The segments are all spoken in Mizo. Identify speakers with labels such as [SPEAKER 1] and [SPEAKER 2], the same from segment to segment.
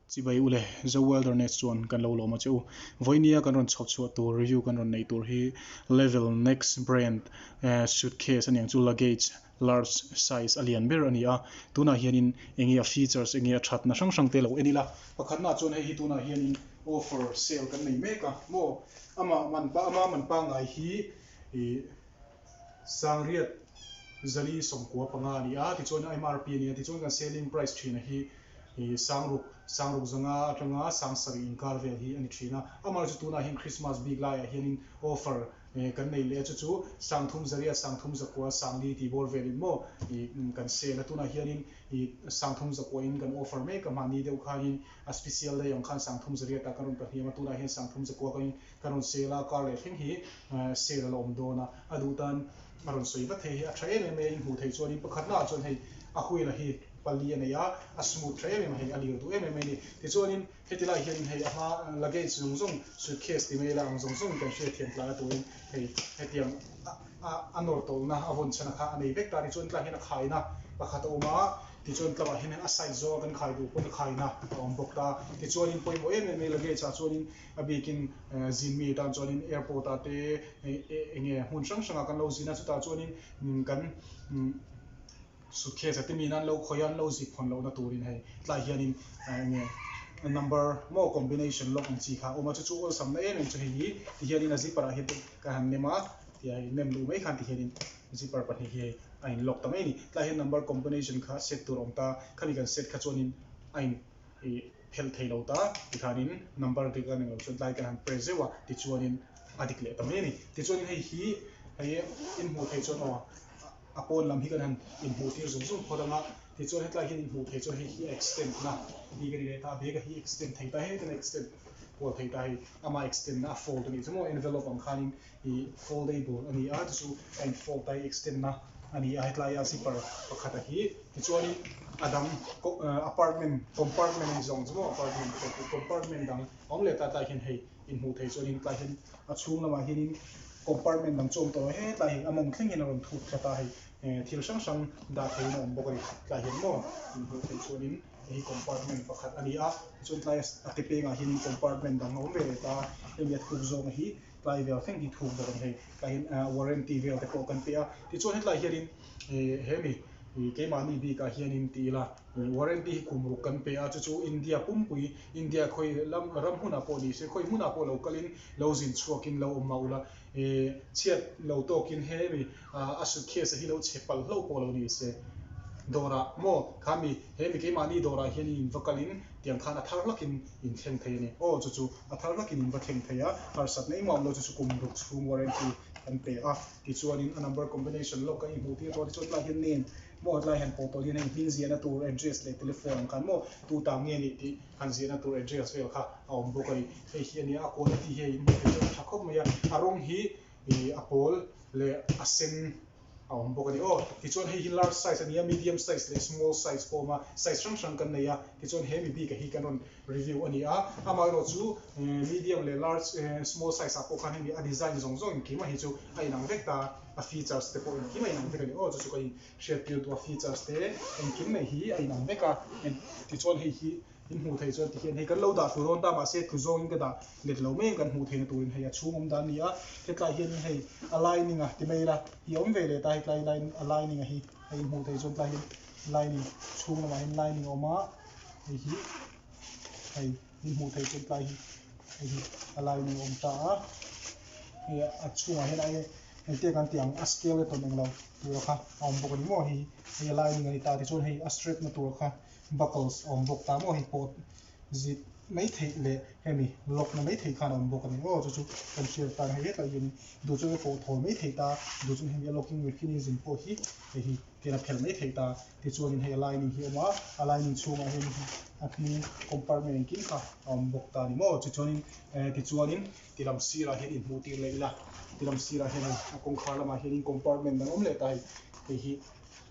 [SPEAKER 1] Chi bai u le, Zo Wilderness chuan kan lo lawm a che u. Vawini a kan rawn chho chhuah tur, review kan rawn nei tur hi Level Next brand suitcase aniang chu luggage large size a lian ber a ni a. Tunah hianin enge a features, enge a thatna hrang hrangte lo en ila. Pakhatnaah chuan hei hi tunah hianin offer, sale kan nei mek a. Maw? Amah man pa, ama man pangngai hi ih. Sangriat Zali sawmkua panga a ni a, tichuan mrp a ni a, tichuan kan selling price thina hi Sangruk, Sangruk zanga atanga Sangsarih inkar vel hi a ni thin a, amah chu tunah hian Christmas bik laiah hianin offer kan neih leh a, chu chu Sangthum Zariat, Sangthum Zakua, Sangli tih bawr velin maw kan sell a, tunah hianin Sangthum Zakua in kan offer mek a, mahni deuh khanin a special day ang khan Sangthum Zariat ah kan rawn pahniam a, tunah hian Sangthum Zakua kawngin Ka rawn sel a, car leh thleng hi sale a la awm dawn a, a duh tan a rawn sawi vat thei hi a tha em em mai a, in hmuh theih chuan in pakhatna ah chuan hei a wheel a hi pali a nei a, a smooth tha em em a, hei a lir duh em em mai a ni. Tichuanin heti lai hianin hei a hma luggage zawng zawng suitcase ti mai ila ang zawng zawng kan hria thiam tlai a turin hei hetiang a nawr tawlhna a vawn chhan a kha a nei vek ta a ni. Chuan tlaiah hian a khaina pakhat a awm a, tichuan tlauhah hian a size zawng a kan khai duh pawn a khaina a awm bawk ta. Tichuanin pawimawh em em mai luggage ah chuanin A bikin zin mi tan chuanin airport ah te eng nge hmun hrang hrangah kan lo zin a, chutah chuanin kan suitcase-a timi nan lo khawih a, an lo zip hawn lohna turin hei tlaiah hianin eng nge number maw combination lock ang chi kha a awm a, chu chu awlsamna em em chu hei hi tihianin a zipper-ah hian hei ka han nem a, tia hei nem duh mai khan tihianin zipper pahnih hi hei a inlock ta mai a ni. Tlaiah hian number combination kha a set tur a awm ta, khami kan set kha chuanin a in. ih phelh thei lo ta ti khan in number dik a ning lo chuan tlai kan han press zeuh a ti chuan in a dik leh ta mai a ni ti chuan in hei hi hei hi in hmuh theih chuan aw a pawn lam hi kan han in hmuh tir zung zung phawt ang a ti chuan hetlai hian in hmuh theih chuan hei hi a extend na tih ka ti leh ta a bag a hi extend thei ta hek a ni extend kual thei ta hei ama extend na a fold a nih chu maw envelope ang khan in. I foldable a ni a, chu chu a in fold a, a extend na a ni a, hetlaiah zipper pakhata hi tichuanin a dang apartment compartment anih zawng chu maw apartment pawh chu compartment dang a awm leh ta tlaiah hian hei in hmuh theih chuan tlaiah hian a chhung lamah hianin compartment dang chu a awm ta he tlaiah hian a mawm thleng hian a rawn thut khat a hei ehh thil hrang hrang dah theih in a awm bawk a ni tlaiah hian maw in hmuh theih chuanin hei hi compartment pakhat a ni a tichuan tlai a ke pengah hian compartment dang a awm ve leh ta hemi a thuk zawng hi. Tlai vel feng hi thuk bawk a ni hei. Tlaiin a warranty vel te pawh kan pe a. Tichuan hetlai hianin ih hemi ih keimahni bikah hianin ti ila ih warranty hi kum ruk kan pe a, chu chu India pumpui, India khawi lam ram hunah pawh ni se, khawi hmunah pawh lo kalin lo zin chhuakin lo awm mah ula ih chhiat lo tawkin hemi ah a suitcase-a hi lo chhe palh hlauh pawh lo ni se. Dawrah maw khami hemi keimahni dawrah hianin in va kalin tiang khan a thar hlakin in thleng thei a ni. Aw chu chu a thar nakin in va thleng thei a, harsat na i mauh lo chu chu kum ruk chhung warranty kan pe a. Tichuanin a number combination lock a i hmuh tir dawn hi chuan tlaiah hian nen maw tlaiah hian pawl pawl hian hei hming ziahna tur address leh telephone an khan maw tuta nge nih tih han ziahna tur address vel kha a awm bawk a ni. Hei hi a nia a quality hi a in hmu thei tawh tha khawp mai a, a rawng hi ih a pawl leh a sen. a awm bawk a ni. Aw, tichuan hei hi large size a ni a, medium size leh small size pawh a awm a, size hrang hrang kan nei a, tichuan he mi bikah hi kan rawn review a ni a, amaherawhchu chu medium leh large ehh small size ah pawh khan hemi a design zawng zawng engkimah hi chu a inang vek ta, a features te pawh engkim a inang vek a ni. Aw, chu chu kan inhriattirtu a features te engkim mai hi a inang vek a, tichuan hei hi. I hmuh theih chuan ti hian hei kan lo dah thur awn ta mah se thu zawngin ka dah let lo mai ang kan hmuh theihna turin hei a chhungawm dan nia hetlai hianin hei aligning a ti mai ila i awm ve let a hetlai line aligning a hi hei i hmuh theih chuan tlai hian lining chhung lamah hian lining a awm a hei hi hei i hmuh theih chuan tlai hi hei hi aligning a awm ta a hei a chhungah hian ai engtiang kan tih ang a scale a tawn englo tura kha a awm bawk a ni maw hei hi hei aligning a ni ta tichuan hei a straight na tur kha. Buckles a awm bawk ta maw hei pawh zip mai theih leh hemi lock na mai theih khan a awm bawk a ni aw chu chu kan hriat tan hei hetlai hian duh chu a pawh thaw mai theih ta duh chu hemi a locking mechanism pawh hi hei hi ken a phelh mai theih ta tichuanin hei a lining hi a awm a a lining chhungah hian a hnung compartment engkim kha a awm bawk ta ni maw chi chuanin eh ti chuanin ti lam sirah hian in hmuh tir leh ila ti lam sirah hian hei a kawngkhar lamah hian compartment dang awm leh ta hei hei hi.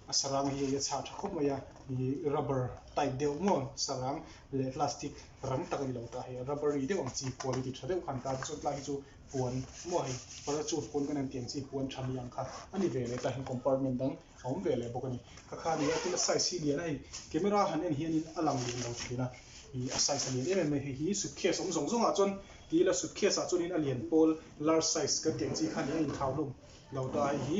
[SPEAKER 1] A saranga hi a chhah tha khawp mai a, ih rubber tight deuh maw sarang leh plastic ram tak a ni lo tah hi a rubber ri deuh ang chi puan a ti tha deuh kha an ta te chuan tlai hi chu puan maw hei parachute puan kan han tih ang chi puan tha ni ang kha a ni ve leh ta hian compartment dang a awm ve leh bawk a ni ka kha ni a tin a size hi lian a hei camera han en hian in a lang leh lo thin a ih a size a lian em em mai hei hi suitcase awm zawng zawng ah chuan ti ila suitcase ah chuan in a lian pawl large size kan tih ang chi kha nih a in thau hlawm lo ta hei hi.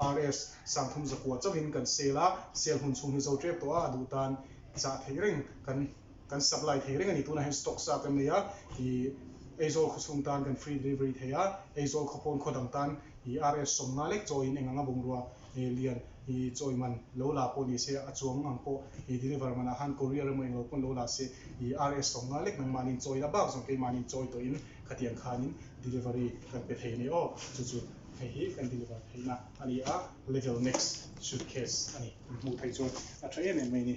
[SPEAKER 1] RS, Sang thum zakua chauhin kan sale a, sale hun chhung hi zo ṭep tawh a, a duh tan chah theih reng, kan kan supply thei reng a ni, tunah hian stock sa kan nei a, ih, Aizawl khaw chhung tan kan free delivery thei a, Aizawl khaw pawn khaw dang tan ih RS sawm nga lek chawiin eng anga bungrua ih lian ih chawi man lo la pawh ni se, a chuang ang pawh ih deliver man ah han courier emaw eng lo pawn lo la se ih RS sawm nga lek nangmahniin chawi la bak zawng keimahniin chawi tawhin khatiang khanin delivery kan pe thei a ni aw, chu chu. Hei hi kan deliver theihna a ni a, level next suitcase a ni. Kan hmuh theih chuan a tha em em mai ni.